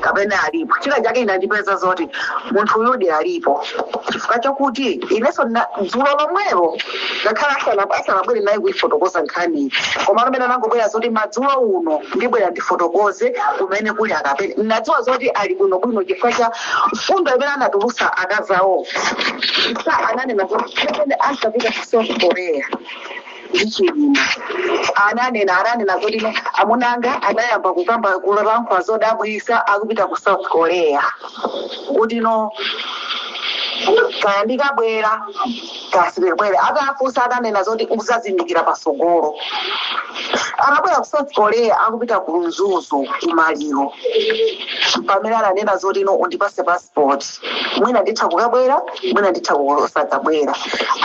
kapena alipo china chake inandipeza zoti munthu uyudi alipo chifukwa chakuti inenso ndina- dzulo lomwelo ngakhale asana- asanabwere naye kuifotokoza nkhani koma amene anangobwera zoti madzulo uno ndibwera ndifotokoze kumene kuli akapena ndinadziwa zoti ali bwinobwino chifukwa cha mfundo imene anatulusa akazawo a SA ananena zoti kapena asapita ku south korea ndi Chilima ananena ananena kuti no amuna anga anayamba kukamba kulankhula zodabwitsa akupita ku south korea kuti no kaya ndikabwera kaya sindibwera atafunsa ananena zoti udzazindikira patsogolo akabwera ku south korea akupita ku mzuzu kumaliro pamene ananena zoti no undipatse passport mwina nditha kukabwera mwina nditha kusakabwera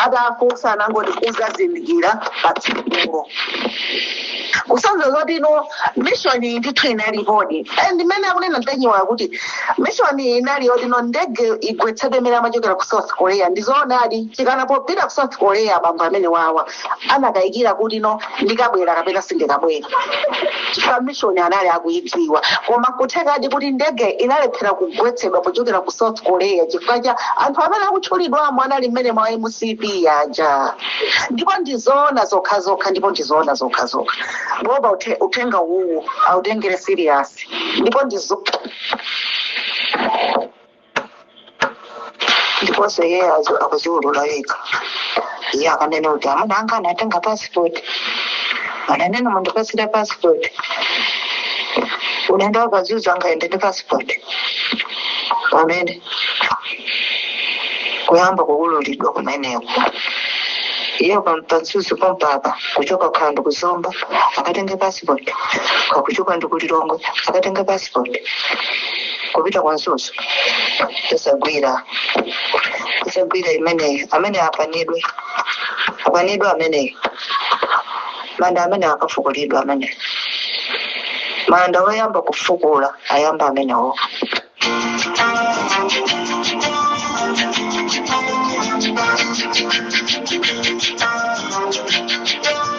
atafunsa anangoti udzazindikira pa tsikulo kusonyeza zoti no mishoni ndithu inalipodi and mmene akunena ntanyiwa kuti mishoni inali yoti no ndege igwetsedwe mmene amachokera ku south korea ndizoonadi chifukwa popita ku south korea bambo amenewawa anakayikira kuti no ndikabwera kapena sindikabwera chifukwa mission anali akuidziwa koma kuthekadi kuti ndege inalephera kugwetsedwa pochokera ku south korea chifukwa cha anthu amene akutchulidwamo anali mmenemo a mcp aja ndipo ndizoona zokha zokha ndipo ndizoona zokha zokha boma uthe- uthenga uwu autengere serious ndipo ndizo ndiponso iye azo- akuziulula yekha iye akunena kuti amuna anga anatenga passport ananena mundipatsire passport unaenda wakazuza angaende ndi passport pamene kuyamba kuululidwa kumeneko iye pa mzuzu pompapa kuchoka kaya ndi ku zomba akatenge passport kaya kuchoka ndi ku lilongwe akatenge passport kupita ku mzuzu sizigwira sizigwira imeneyo amene apanidwe apanidwe ameneyo manda amene akafukulidwa ameneyo manda oyamba kufukula ayamba amenewo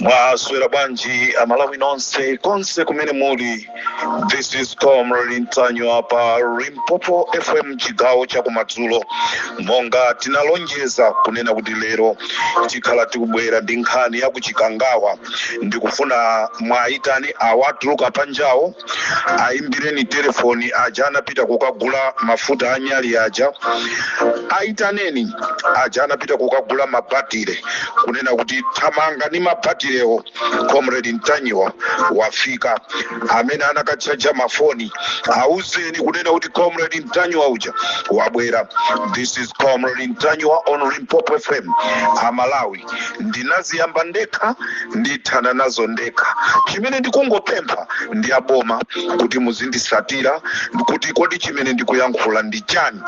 mwaswera bwanji amalawi nonse konse kumene muli this is comrade ntanyiwa pa limpopo fm chigawo chakumadzulo monga tinalonjeza kunena kuti lero tikhala tikubwera ndi nkhani yakuchikangawa ndikufuna muwayitane awo atuluka panjawo aimbireni telefoni aja anapita kukagula mafuta anyali aja aitaneni aja anapita kukagula mabatire kunena kuti thamanga ni mabatirewo comrade ntanyiwa wafika amene anakatchaja mafoni auzeni kunena kuti comrade ntanyiwa uja wabwera this is comrade ntanyiwa on limpopo fm amalawi ndinaziyamba ndekha ndithana nazo ndekha chimene ndikungopempha ndi aboma kuti muzindisatira kuti kodi chimene ndikuyankhula ndi chani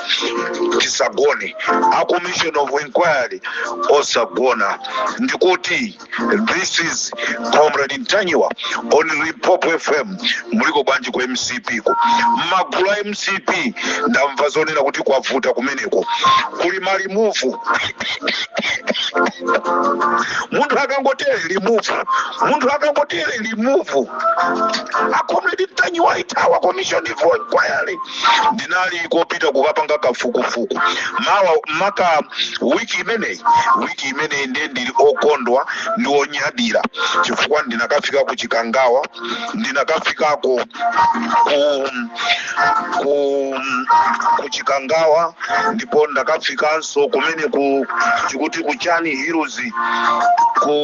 tisagone a commission of inquiry osagona ndikuti this is comrade ntanyiwa on limpopo fm muliko bwanji ku mcp ko mmagulu a mcp ndamva zonena kuti kwavuta kumeneko kuli malimuvu munthu akangotere limuvu munthu akangotere limuvu a comrade ntanyiwa ithawa commission of inquiry ndinali kopita kukapanga kafukufuku makamaka wiki imeneyi wiki imeneyi ndiye ndili okondwa ndi onyadira chifukwa ndinakafika ku chikangawa ndinakafikako ku, ku, ku chikangawa ndipo ndakafikanso kumeneku tikuti ku chani hills ku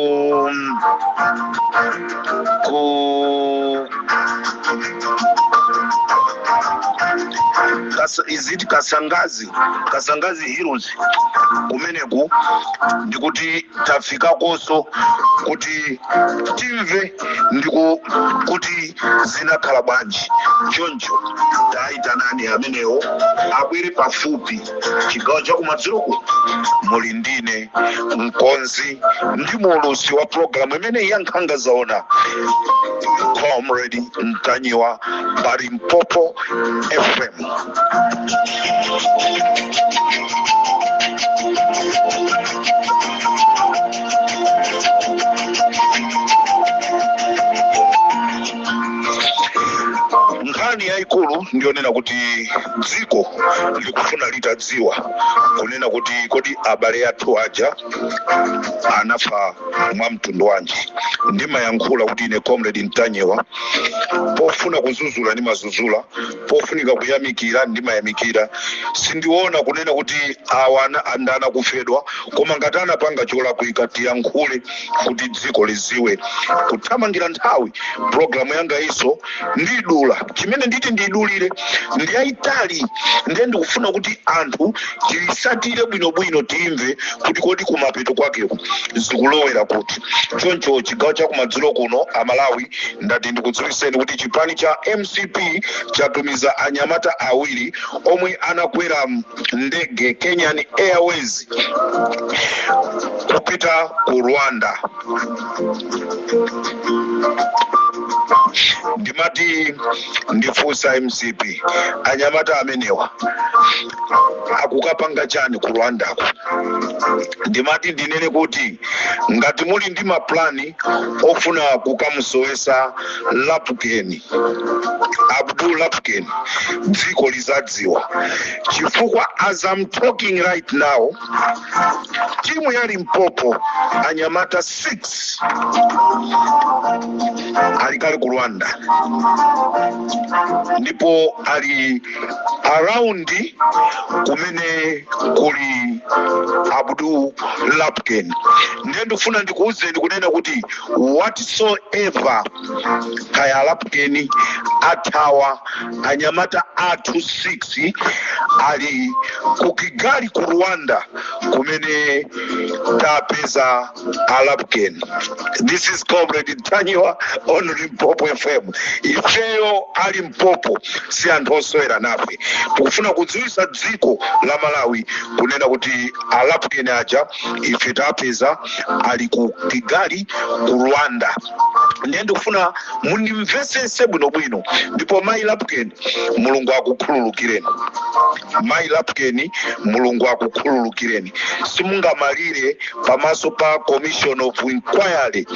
ku Kas- is it kasangazi kasangazi hills kumeneku ndikuti tafikakonso kuti timve ndiko kuti zinakhala bwanji choncho tayitanani amenewo abwere pafupi chigawo chakumadzuloku muli ndine mkonzi ndi muulusi wa pulogalamu imeneyi ya nkhanga zaona comrade ntanyiwa pa limpopo fm nkhani yayikulu ndiyonena kuti dziko likufuna litadziwa kunena kuti kodi abale athu aja anafa mwa mtundu wanji ndimayankhula kuti ine comrade ntanyiwa pofuna kuzuzula ndimazuzula pofunika kuyamikira ndimayamikira sindiona kunena kuti awa ana- andana kufedwa koma ngati anapanga cholakwika tiyankhule kuti dziko liziwe kuthamangira nthawi pulogalamu yangayi so ndidula chimene nditi ndidulire ndiyayitali ndiye ndikufuna kuti anthu tiyisatire bwinobwino timve kuti kodi kumapeto kwakeko zikulowera kuti choncho chigawo chakumadzulo kuno amalawi ndati ndikudziwiseni kuti chipani cha mcp chatumiza anyamata awiri omwe anakwera ndege kenyan airways kupita ku rwanda ndimati ndifunse mcp anyamata amenewa akukapanga chani ku rwandako ndimati ndinene kuti ngati muli ndi maplani ofuna kukamusowesa lapukeni abdul lapukeni dziko lizadziwa chifukwa as I'm talking right now timu ya limpopo anyamata 6 ali kale ku rwanda ndipo ali around kumene kuli abdul lapukeni ndiye ndikufuna ndikuwuzeni kunena kuti whatsoever kaya alapukeni athawa anyamata athu 6 ali ku kigali ku rwanda kumene tapeza alapukeni this is comrade ntanyiwa on limpopo fm ifeyo a limpopo si anthu osewera nafe tikufuna kudziwisa dziko la malawi kunena kuti alapukeni aja ife tapeza ali ku kigali ku rwanda ndiye ndikufuna mundimvetsetse bwinobwino ndipo mayi lapukeni mulungu akukhululukireni mayi lapukeni mulungu akukhululukireni simungamalire pamaso pa commission of inquiry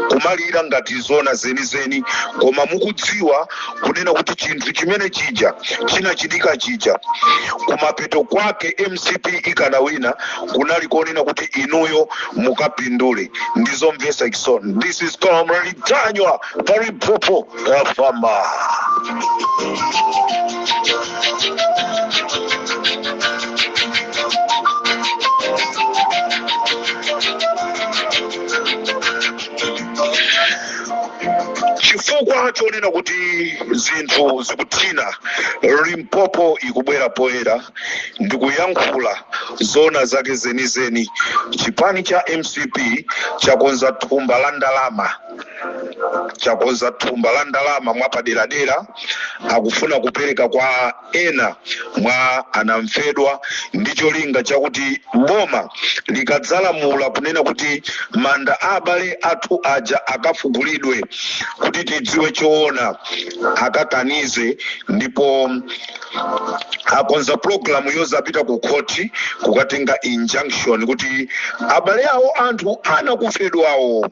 kumalira ngati zona zenizeni koma mukudziwa kunena kuti chinthu chimene chija chinachitika chija kumapeto kwake mcp ikanawina kunali konena kuti inuyo mukapindule ndizomvesa chisoni this is comrade ntanyiwa pa limpopo fm chifukwa chonena kuti zinthu zikuthina limpopo ikubwera poyera ndi kuyankhula zona zake zenizeni chipani cha mcp chakonza thumba la ndalama chakonza thumba la ndalama mwapaderadera akufuna kupereka kwa ena mwa anamfedwa ndi cholinga chakuti boma likadzalamula kunena kuti manda a abale athu aja akafukulidwe kuti tidziwe choona akakanize ndipo akonza pulogalamu yozapita ku khoti kukatenga injunction kuti abale awo anthu anakufedwawo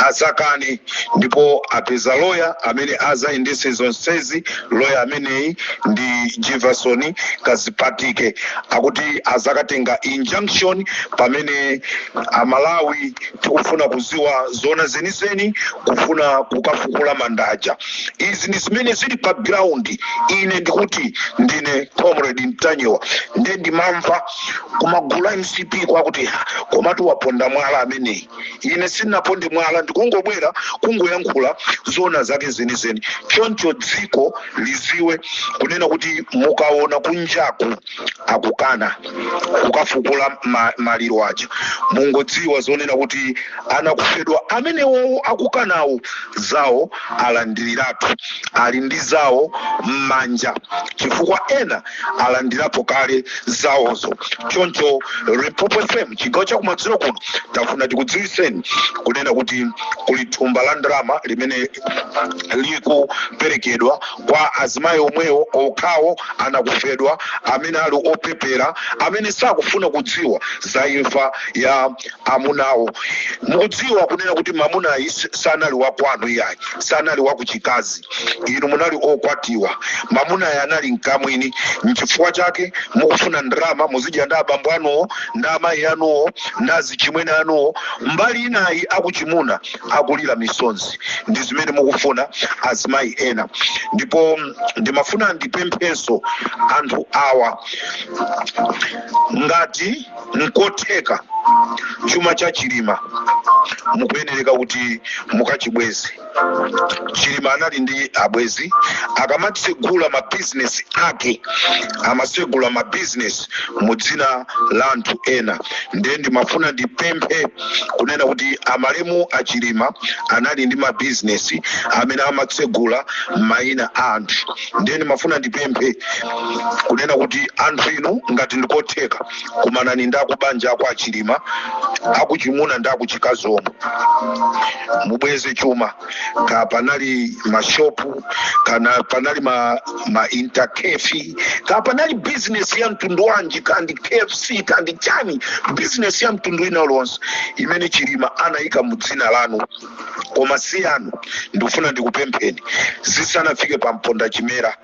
azakane ndipo apeza loya amene azayendese zonsezi loya ameneyi ndi jefferson kazipatike akuti azakatenga injunction pamene amalawi tikufuna kuziwa zoona zenizeni kufuna kukafukula mandaja izi ndi zimene zili pa ground ine ndikuti ndine comrade ntanyiwa nde ndimamva kumagulu a mcp kwakuti ha komatu waponda mwala ameneyi ine sinaponde mwala ndikungobwera kungoyankhula zoona zake zenizeni choncho dziko liziwe kunena kuti mukaona kunjaku akukana kukafukula ma, maliro aja mungodziwa zonena kuti anakufedwa amenewowo akukanawo zawo alandiriratu ali ndi zawo m'manja chifukwa ena alandirapo kale zawozo choncho limpopo fm chigawo chakumadzulo kuno tafuna tikudziwiseni kunena kuti kuli thumba la ndalama limene likuperekedwa kwa azimayi omwewo okhawo anakufedwa amene ali opepera amene sakufuna kudziwa za imfa ya amunawo mukudziwa kunena kuti mamunayi s- sanali wakwanu iyayi sanali wakuchikazi inu munali okwatiwa mamunayi anali mkamwini mchifukwa chake mukufuna ndalama muzidya ndi abambo anuwo ndi amayi anuwo ndi azichimwene anuwo mbali inayi akuchimuna akulira misonzi ndi zimene mukufuna azimayi ena ndipo mm, ndimafuna ndipemphenso anthu awa ngati nkotheka chuma cha chilima mukuyenereka kuti mukachibweze chilima anali ndi abwezi akamatsegula mabizinesi ake amatsegula mabizinesi mu dzina la anthu ena ndiye ndimafuna ndipemphe kunena kuti amalemu achilima anali ndi mabizinesi amene amatsegula m'maina a anthu ndiye ndimafuna ndipemphe kunena kuti anthu inu ngati ndikotheka kumanani ndi akubanja kwa achilima akuchimuna ndi akuchikazi omwe mubweze chuma ka panali mashopu kana panali ma, ma intercafe ka panali business ya mtundu wanji kandi kfc kandi chani business ya mtundu wina uliwonse imene chilima anayika mu dzina lanu koma si yanu ndikufuna ndikupempheni zisanafike pa mponda chimera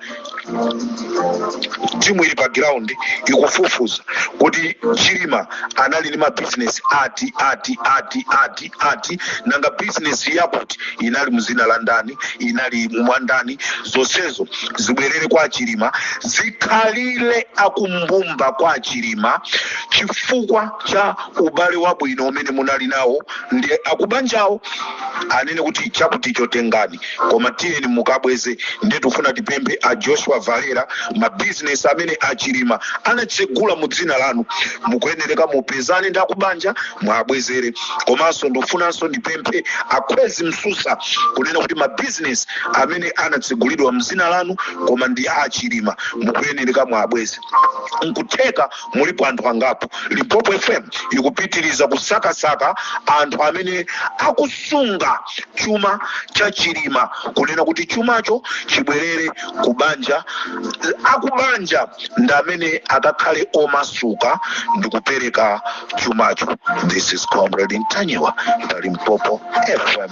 timu ili pa ground ikufufuza kuti chilima anali ndi mabizinesi ati ati ati ati ati nanga bizinesi yakuti inali mzina la ndani inali mwandani zonsezo zibwerere kwa chilima zikhalire akumbumba kwa chilima chifukwa cha ubale wabwino umene munali nawo ndi akubanjawo anene kuti chakuticho tengani koma tiyeni mukabweze nde tifuna tipemphe a joshua valera mabizinesi amene achilima anatsegula mu dzina lanu mukuyenereka mupezane ndi akubanja muwabwezere komanso ndifunanso ndipemphe akhwezi msusa kunena kuti mabizinesi amene anatsegulidwa mdzina lanu koma ndi achilima mukuyenereka muwabweze nkutheka mulipo anthu angapo limpopo fm ikupitiriza kusakasaka anthu amene akusunga chuma cha chilima kunena kuti chumacho chibwerere ku banja akubanja ndi amene akakhale omasuka ndi kupereka chumacho this is comrade ntanyiwa pa limpopo fm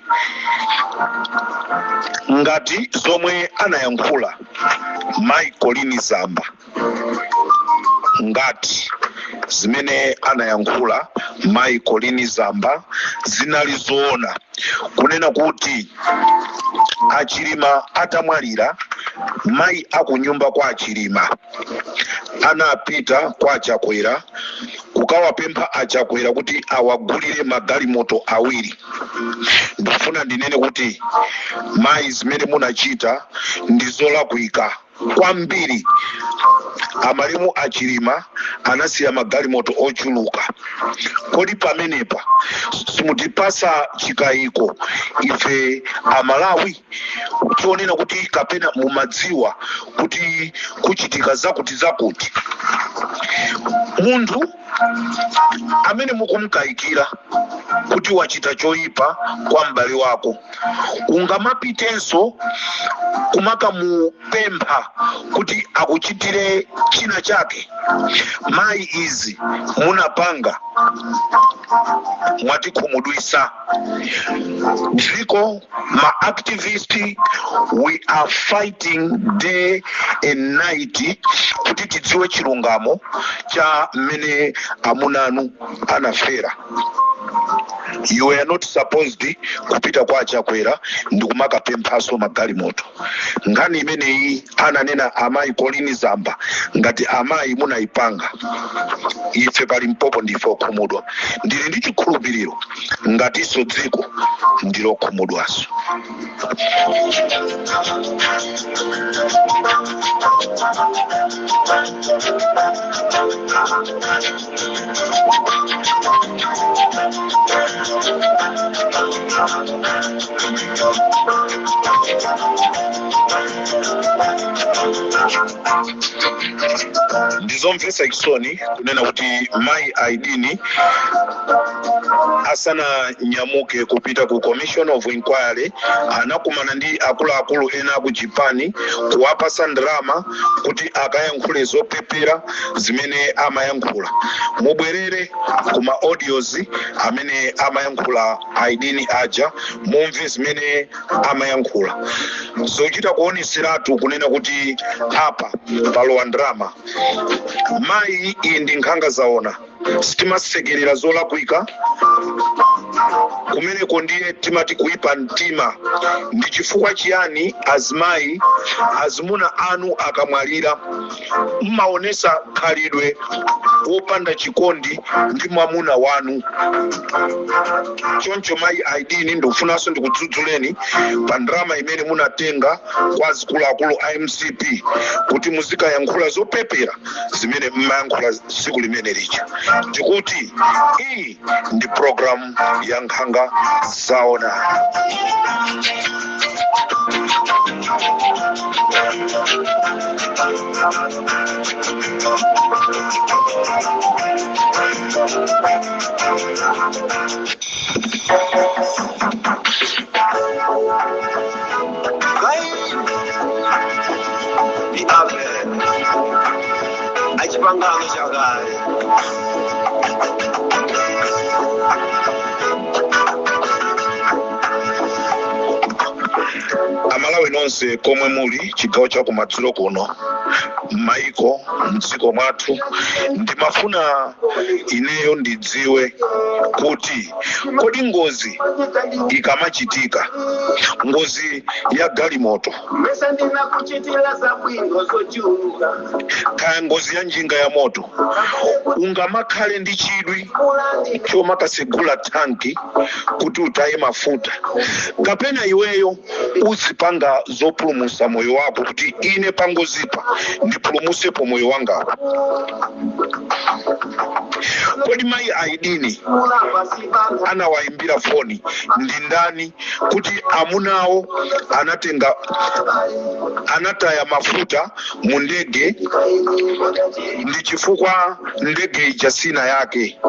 ngati zomwe anayankhula mai colleen zamba ngati zimene anayankhula mai colleen zamba zinali zoona kunena kuti achilima atamwalira mai akunyumba kwa achilima anapita kwa achakwera kukawapempha achakwera kuti awagulire magalimoto awiri ndifuna ndinene kuti mayi zimene munachita ndi zolakwika kwambiri amalemu achilima anasiya magalimoto ochuluka kodi pamenepa simutipasa chikayiko ife amalawi tionena kuti kapena mumadziwa kuti kuchitika zakuti zakuti munthu amene mukumkayikira kuti wachita choyipa kwa m'bale wako ungamapitenso kumakamupempha kuti akuchitire china chake mayi izi munapanga mwatikhumudwisa dziko ma activist we are fighting day and night kuti tidziwe chilungamo cha mmene amunanu anafera you are not supposed kupita kwa achakwera ndi kumakapemphaso magalimoto nkhani imeneyi ananena amayi colleen zamba ngati amayi munayipanga ife pa limpopo ndife okhumudwa ndili ndi chikhulupiriro ngatinso dziko ndilokhumudwaso ndizomvetsa chisoni kunena kuti mayi aidini asananyamuke kupita ku commission of inquiry anakumana ndi akuluakulu ena aku chipani kuwapasa ndalama kuti akayankhule zopepera zimene amayankhula mubwerere ku ma audios amene amayankhula aidini aja mumve zimene amayankhula zochita kuoneseratu kunena kuti apa palowa ndalama mayi iyi ndi nkhanga zaona sitimasekerera zolakwika kumeneko ndiye timati kuipa mtima ndi chifukwa chiyani azimayi azimuna anu akamwalira mmaonesa khalidwe wopanda chikondi ndi mwamuna wanu choncho mayi aidini ndikufunanso ndikudzudzuleni pa ndalama imene munatenga kwa azikuluakulu a mcp kuti muzikayankhula zopepera zimene mmayankhula tsiku limene lija ndikuti iyi ndi programu ya nkhanga zaona achipangano chakale amalawi nonse komwe muli chigawo cha kumadzulo kuno m'maiko mdziko mwathu ndimafuna ineyo ndidziwe kuti kodi ngozi ikamachitika ngozi ya galimoto mesa ndinakuchitira zabwino zochuluka kaya ngozi ya njinga ya moto ungamakhale ndi chidwi chomakasegula thanki kuti utaye mafuta kapena iweyo uzipanga zopulumusa moyo wako kuti ine pangozipa ndipulumusepo moyo wangawo kodi mayi aidini anawayimbira foni ndi ndani kuti amunawo anatenga anataya mafuta mu ndege ndi chifukwa ndege ija sina yake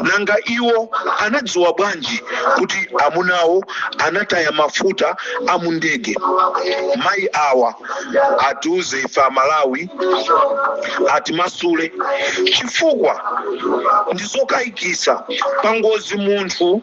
nanga iwo anadziwa bwanji kuti amunawo anataya mafuta a mu ndege mayi awa atiuze ife amalawi atimasule chifukwa ndizokayikisa pangozi munthu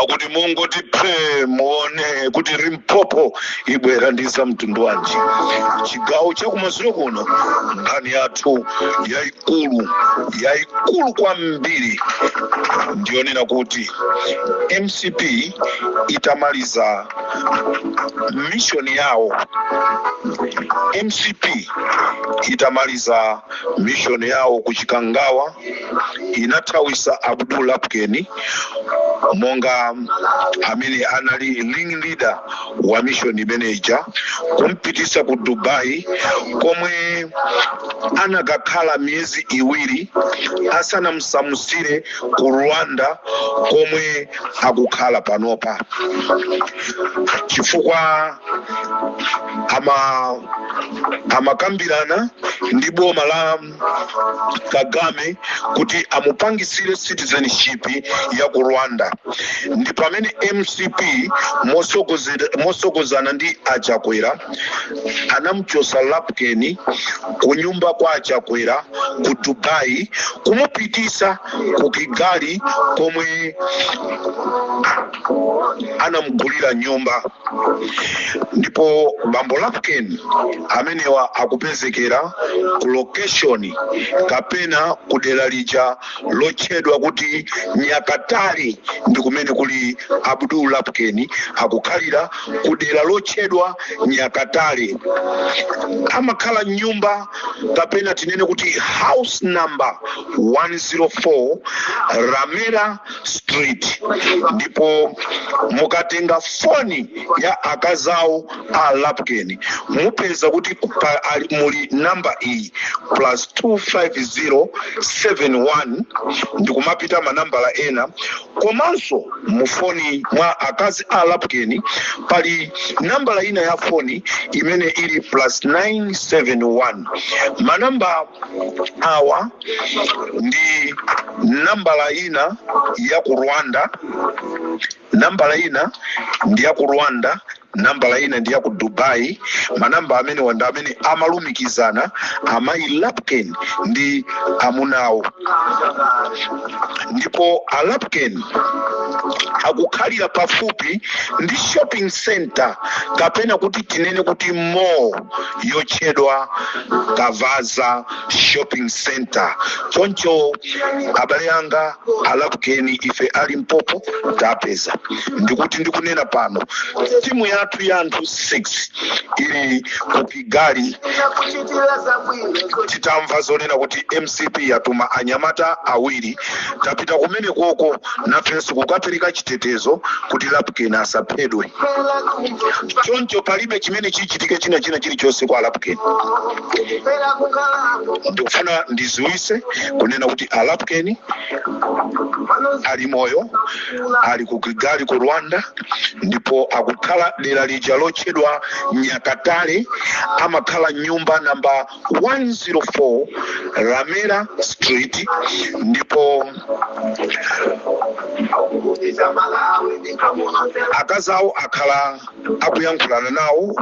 akuti mungoti phe muone kuti Limpopo ibwera ndi za mtundu wanji chigawo chakumadzulo kuno nkhani yathu yayikulu yayikulu kwambiri ndiyonena kuti mcp itamaliza mishoni yawo mcp itamaliza mishoni yawo ku chikangawa inathawisa abdul lapkeni monga amene anali ring leader wa mission imene ija kumpitisa ku dubai komwe anakakhala miyezi iwiri asanamsamusire ku rwanda komwe akukhala panopa chifukwa amakambirana ndi boma la kagame kuti amupangisire citizenship ya ku rwanda ndi pamene mcp mosogozana ndi achakwera anamuchosa lapkeni kunyumba kwa achakwera ku dubai kumupitisa ku kigali komwe anamugulira nyumba ndipo bambo lapken amenewa akupezekera ku location kapena ku dera lija lotchedwa kuti nyakatali ndi kumene kuli abdul lapkeni akukhalira ku dera lotchedwa nyakatali amakhala m'nyumba kapena tinene kuti house number 104 ramera street ndipo mukatenga foni ya akazawo a lapken mupeza kuti muli namba iyi plus 25071 ndikumapita manambala ena komanso mufoni mwa akazi a lapken pali nambala ina ya foni imene ili plus 971 manamba awa ndi nambala ina ya ku rwanda nambala ina ndi ya ku rwanda nambala ina ndi ya ku dubai manamba amenewa ndi amene amalumikizana amayi lapukeni ndi amunawo ndipo a lapukeni akukhalira pafupi ndi shopping center kapena kuti tinene kuti mall yotchedwa kavaza shopping center choncho abale anga a lapukeni ife a limpopo tapeza ndikuti ndikunena pano timu yathu ya anthu 6 ili ku kigali titamva zonena kuti mcp yatuma anyamata awiri tapita kumene koko nafenso kukapereka chitetezo kuti lapukeni asaphedwe choncho palibe chimene chichitike china china chilichonse kwa a lapukeni ndikufuna ndiziwise kunena kuti a lapukeni ali moyo ali ku kigali ku rwanda ndipo akukhala dera lija lotchedwa nyakatale amakhala nyumba namba 104 ramera street ndipo akazawo akhala akuyankhulana nawo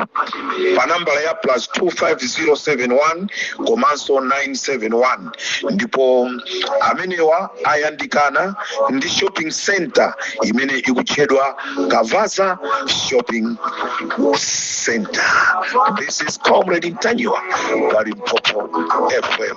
pa nambala ya plus 25071 komanso 971 ndipo amenewa ayandikana ndi shopping center imene ikutchedwa kavaza shopping center this is comrade ntanyiwa pa limpopo fm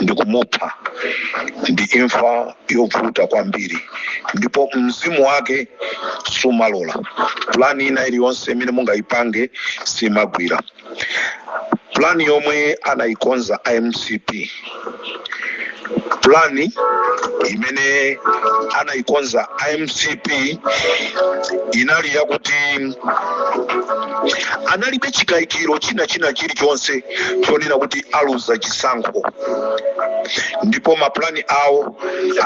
ndi kumupha ndi imfa yovuta kwambiri ndipo mzimu wake sumalola pulani ina iliyonse imene mungayipange simagwira pulani yomwe anayikonza a mcp pulani imene anayikonza a mcp inali yakuti analibe chikayikiro china china chilichonse chonena kuti aluza chisankho ndipo mapulani awo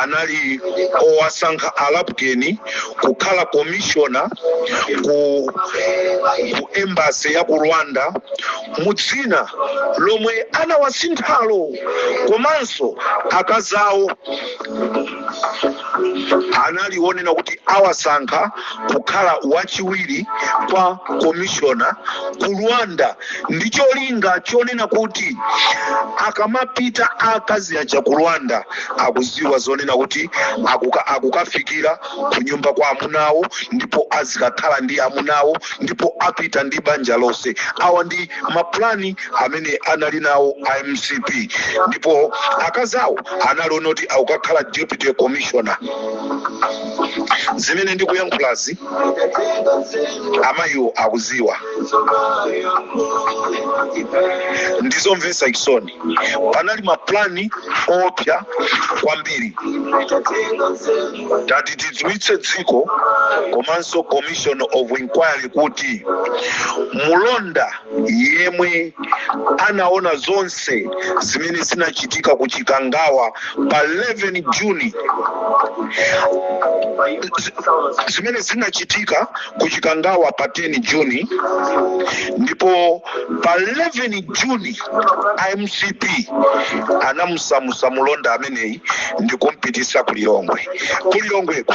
anali owasankha a lapukeni kukhala komishona ku, ku embasi ya ku rwanda mu dzina lomwe anawasinthalo komanso akazawo anali onena kuti awasankha kukhala wachiwiri kwa komishona ku rwanda ndi cholinga chonena kuti akamapita akazi aja ku rwanda akuziwa zonena kuti akuka, akukafikira ku nyumba kwa amunawo ndipo azikakhala ndi amunawo ndipo apita ndi banja lonse awa ndi mapulani amene anali nawo a mcp ndipo akazi awo analiona kuti akukakhala deputy commissioner zimene ndikuyankhulazi amayiwo akuziwa ndizomvesa chisoni panali mapulani oopsya kwambiri tati tidziwitse dziko komanso commission of inquiry kuti mulonda yemwe anaona zonse zimene zinachitika ku chikangawa pa 11 juni Z- zimene zinachitika ku chikangawa pa 10 juni ndipo pa 11 juni a mcp anamusamusa mulonda ameneyi ndikumpitisa ku lilongwe ku lilongweko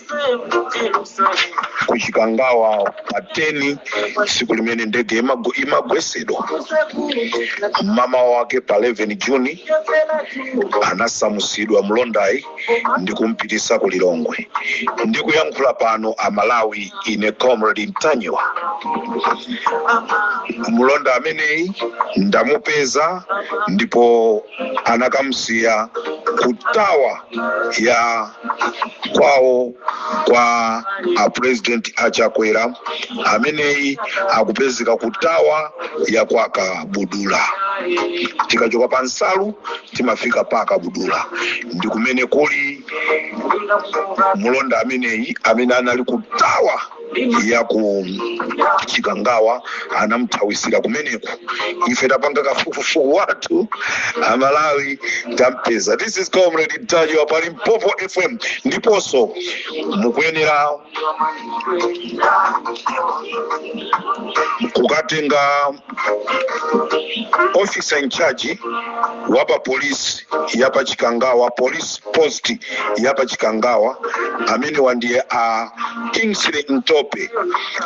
ku chikangawa pa 10 tsiku limene ndege imago- imagwesedwa mmawa wake pa 11 juni anasamusidwa mlondayi ndi kumpitisa ku lilongwe ndikuyankhula pano amalawi ine comrade ntanyiwa mlonda ameneyi ndamupeza ndipo anakamsiya ku tawa ya kwawo kwa a president a chakwera ameneyi akupezeka ku tawa ya kwa kabudula tikachoka pa nsalu timafika pa kabudula ndi kumene kuli mulonda ameneyi amene anali ku tawa ya ku chikangawa anamthawisira kumeneko ife tapanga kafukufuku wathu amalawi tampeza this is comrade ntanyiwa pa limpopo fm ndiponso mukuyenera kukatenga officer in charge wa pa polisi ya pa chikangawa police post ya pa chikangawa amenewa ndiye a kingsley ntope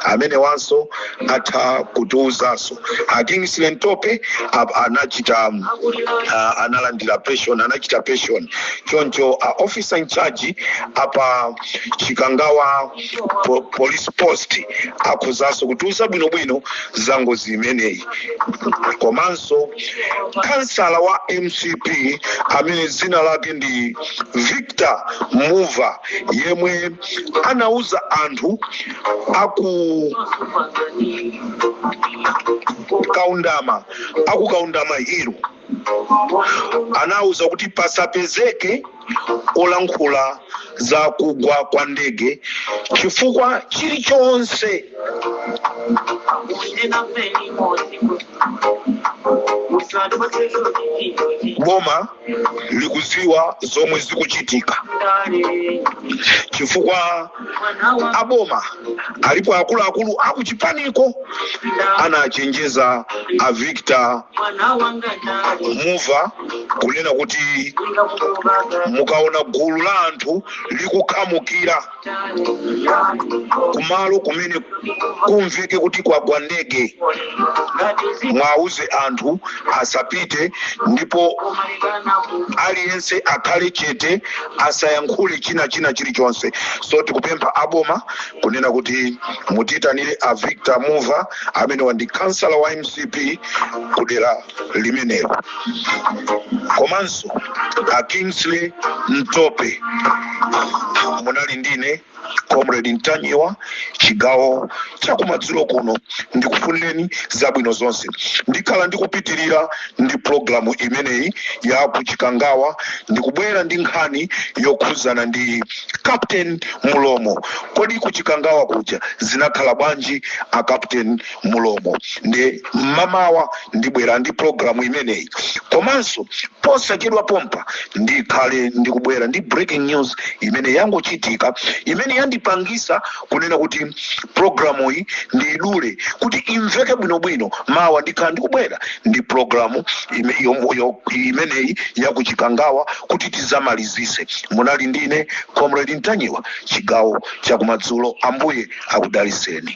amenewanso atha kutiuzanso a kingsley ntope a- anachita um, a- analandira pension anachita pension choncho a officer in charge a pa chikangawa po, police post akhozaso kutiuza bwinobwino za ngozi imeneyi komanso kansala wa mcp amene dzina lake ndi victor muva yemwe anauza anthu a ku kaundama a ku kaundama hill anawuza kuti pasapezeke olankhula za kugwa kwa ndege chifukwa chilichonse boma likuziwa zomwe zikuchitika chifukwa aboma alipo akuluakulu akuchipaniko anachenjeza a victor muva kunena kuti mukaona gulu la anthu likukhamukira kumalo kumene kumveke kuti kwagwa ndege mwauze anthu asapite ndipo aliyense akhale chete asayankhule china china chilichonse so tikupempha aboma kunena kuti mutiyitanire a victor muva amene anali kansala wa mcp kudera limenelo komanso a kingsley mtope munali ndine comrade ntanyiwa chigawo chakumadzulo kuno ndikufunireni zabwino zonse ndikhala ndikupitirira ndi programu imeneyi ya kuchikangawa ndikubwera ndi nkhani yokhuzana ndi captain mulomo kodi kuchikangawa kuja zinakhala bwanji a captain mulomo ndi mmamawa ndibwera ndi programu imeneyi komanso posachedwa pompa ndikhale ndikubwera ndi breaking news imene yangochitika imene yandipangisa kunena kuti programu iyi ndiyidule kuti imveke bwinobwino mawa ndikhala ndikubwera ndi programu ime- yo- yo- imeneyi yakuchikangawa kuti tizamalizise munali ndine comrade ntanyiwa chigawo chakumadzulo ambuye akudaliseni